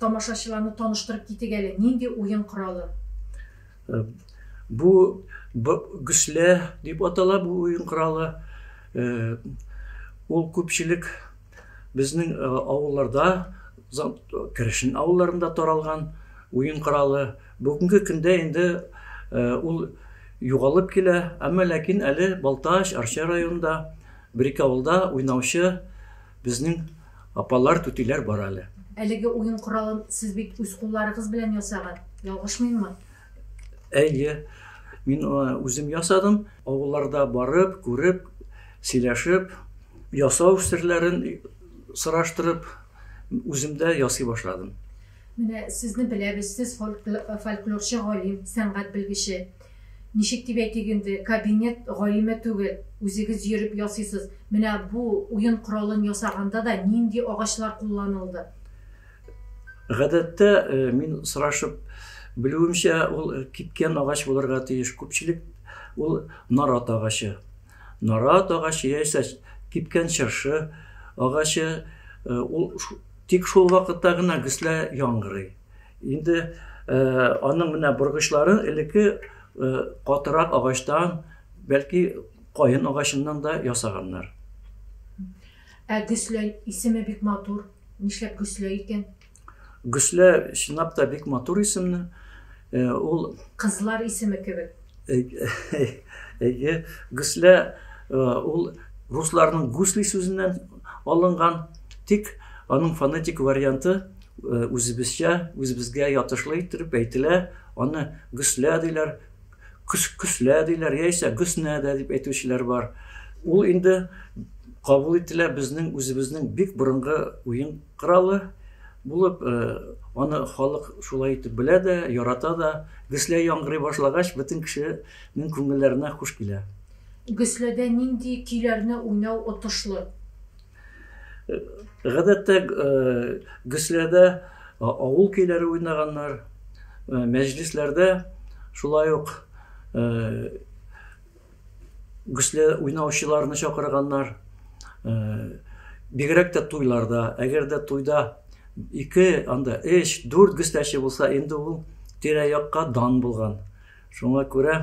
Тамашачыларны таныштырып китик әле, нинди уен коралы? Бу гөслә дип атала бу уен коралы. Ул күпчелек безнең авылларда, керешен авылларында таралган уен коралы. Бүгенге көндә инде ул югалып килә, әмма ләкин әле Балтач, Арча районында, бер-ике авылда уйнаучы безнең Апалар, түтиләр бар әле. Әлеге уен коралын сез бит үз кулларыгыз белән ясаган, ялгышмыйммы? Әйе, мин үзем ясадым. Авылларда барып, күреп, сөйләшеп, ясау серләрен сораштырып, үзем дә ясый башладым. Менә сезне беләбез, сез фольклорчы галим, сәнгать белгече. Ничек дип әйтик инде, кабинет галиме түгел, үзегез йөреп ясыйсыз. Менә бу уен коралын ясаганда да нинди агачлар кулланылды? Гадәттә, мин сорашып белүемчә, ул кипкән агач булырга тиеш. Күпчелек ул нарат агачы. Нарат агачы яисә кипкән чыршы агачы, ул тик шул вакытта гына гөслә яңгырый. Инде аның менә боргычлары элекке катырак агачтан, бәлки каен агачыннан да ясаганнар. Ә Гөсләй исеме бик матур. Нишләп Гөсләй икән? Гөслә чынлап та бик матур исемне. Ул кызлар исеме кебек. Әйе, Гөслә ул русларның гусли сүзеннән алынган, тик аның фонетик варианты Э, үзебезчә, үзебезгә ятышлы иттереп әйтелә, аны гөслә диләр, көс, көслә диләр, яисә гөснә дә дип әйтүчеләр бар. Ул инде кабул ителә безнең үзебезнең бик борынгы уен коралы булып, э, аны халык шулай итеп белә дә, ярата да. Гөслә яңгырый башлагач, бөтен кешенең күңелләренә хуш килә. Гөсләдә нинди көйләрне уйнау отышлы? Гадәттә э, гөсләрдә э, авыл көйләре уйнаганнар, э, мәҗлесләрдә шулай ук гөсле уйнаучыларны чакырганнар. Бигрәк тә туйларда, әгәр дә туйда ике, анда өч, дүрт гөсләче булса, инде ул тирә-якка дан булган. Шуңа күрә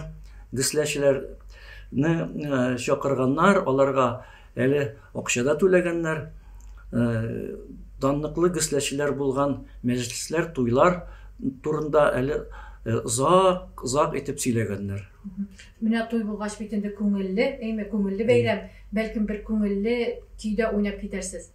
гсләчеләрне чакырганнар, аларга әле акча да түләгәннәр. Данлыклы гсләчеләр булган мәҗлесләр, туйлар турында әле озак, озак итеп сөйләгәннәр. Менә туй булгач бит инде күңелле, әйме, күңелле бәйрәм, бәлкем бер күңелле көйдә уйнап китәрсез.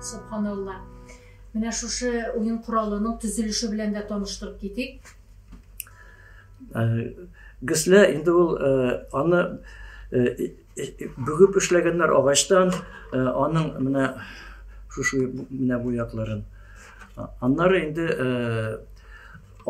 Субханалла. Менә шушы уен коралының төзелеше белән дә таныштырып китик. Э, Гесле инде ул э, аны э, бүгеп эшләгәннәр агачтан, аның менә шушы менә бу якларын. Аннары инде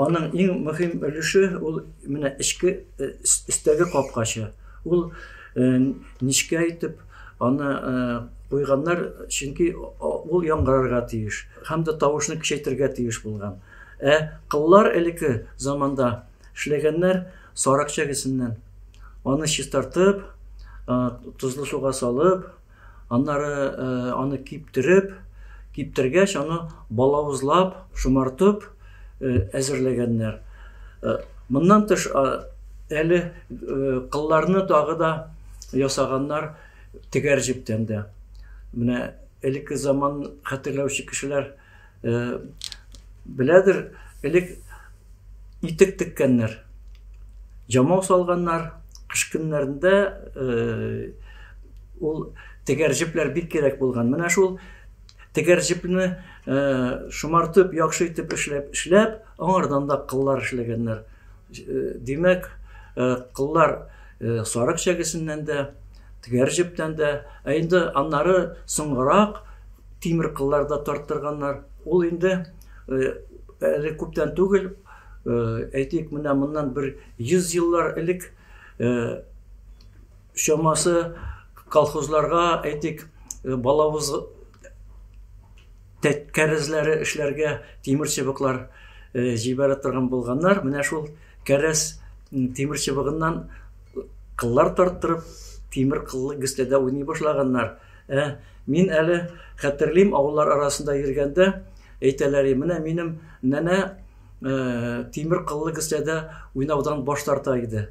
Аның иң мөһим өлеше ул менә эчке өстәге капкачы. Ул нечкә итеп аны куйганнар, чөнки ул яңгырарга тиеш һәм дә тавышны көчәйтергә тиеш булган. Ә кыллар элекке заманда эшләгәннәр сарык чәгесеннән. Аны чистартып, тозлы суга салып. Аннары аны киптереп, киптергәч аны балавызлап, шомартып әзерләгәннәр. Моннан тыш әле кылларны тагы да ясаганнар тегәр җептән дә. Менә элекке заман хәтерләүче кешеләр Э, беләдер, элек итек теккәннәр, җамау салганнар, кыш көннәрендә э, ул тегәр җепләр бик кирәк булган. Менә шул тегәр җепне э, шомартып, яхшы итеп эшләп, эшләп, аңардан да кыллар эшләгәннәр. Димәк, кыллар сарык чәгесеннән дә, тегәр җептән дә, ә инде аннары соңрак тимер кыллар да тарттырганнар. Ул инде әле күптән түгел, әйтик, менә моннан бер 100 еллар элек чамасы колхозларга, әйтик, балавыз Тәккәрезләре эшләргә тимер чыбыклар җибәрә торган булганнар. Менә шул кәрәз тимер чыбыгыннан кыллар тарттырып, тимер кыллы гөстәдә уйный башлаганнар. Ә мин әле хәтерлим, авыллар арасында йөргәндә әйтәләр, менә минем нәнә тимер кыллы кесәдә уйнаудан баш тарта иде,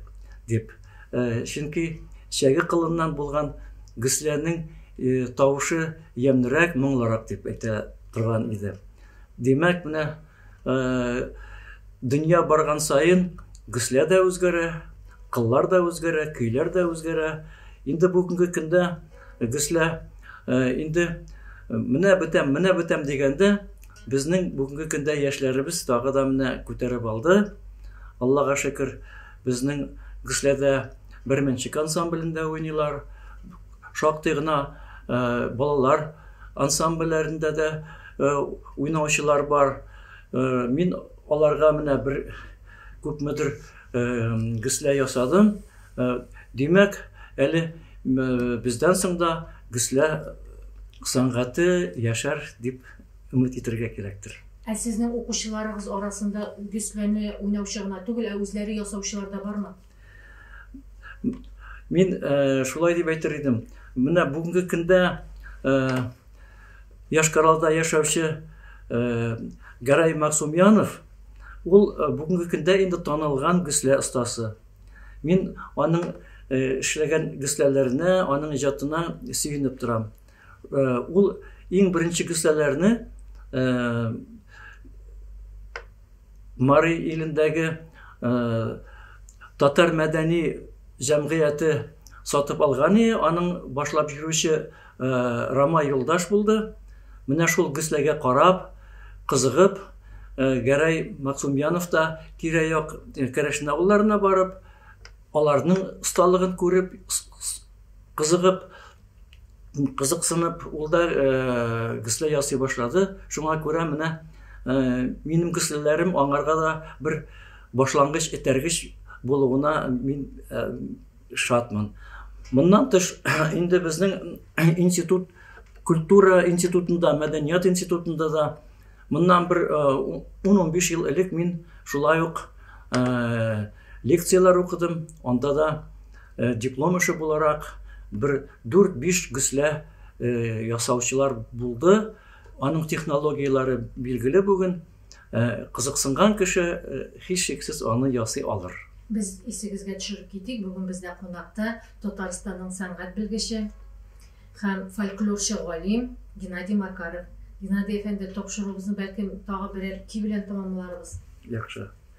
дип. Чөнки чәге кылыннан булган кесәнең тавышы ямьлерәк, моңлырак дип әйтә торган иде. Димәк, менә дөнья барган саен кесә дә үзгәрә, кыллар да үзгәрә, көйләр дә үзгәрә. Инде бүгенге көндә кесә инде менә бетәм, менә бетәм дигәндә, Безнең бүгенге көндә яшьләребез тагы да менә күтәреп алды. Аллага шөкер, безнең Гөсләдә Берменчек ансамблендә уйныйлар. Шактый гына э, балалар ансамбльләрендә дә э, уйнаучылар бар. Э, мин аларга менә бер күпмедер гөслә ясадым. Димәк, әле бездән соң да гөслә сәнгате яшәр дип өмет итәргә кирәктер. Ә сезнең укучыларыгыз арасында гөсләне уйнаучы гына түгел, ә үзләре ясаучылар да бармы? Мин шулай дип әйтер идем. Менә бүгенге көндә Яшкаралда яшәүче Гәрәй Максумянов ул э, бүгенге көндә инде танылган гөслә остасы мин аның э, эшләгән гөсләләренә аның иҗатына сөенеп торам Ул иң беренче кесәләрне Мари илендәге татар мәдәни җәмгыяте сатып алган иде, аның башлап җөрүче Рама юлдаш булды. Менә шул кесәгә карап, кызыгып, Гәрәй Максумьянов та тирә-як керәшен авылларына барып, аларның осталыгын күреп, кызыгып, кызыксынып, ул да гөслә ясый башлады. Шуңа күрә менә минем гөсләләрем аңарга да бер башлангыч этәргеч булуына мин шатмын. Моннан тыш, инде безнең институт культура институтында, мәдәният институтында да моннан бер 10-15 ел элек мин шулай ук лекцияләр укыдым, анда да Диплом эше буларак бер дүрт-биш гөслә ясаучылар булды. Аның технологияләре билгеле бүген. Кызыксынган кеше һичшиксез аны ясый алыр. Без исегезгә төшереп китик, бүген бездә кунакта Татарстанның сәнгать белгече һәм фольклорчы галим Геннадий Макаров. Геннадий әфәнде, тапшыруыбызны бәлкем тагы берәр ки белән тәмамларбыз. Яхшы.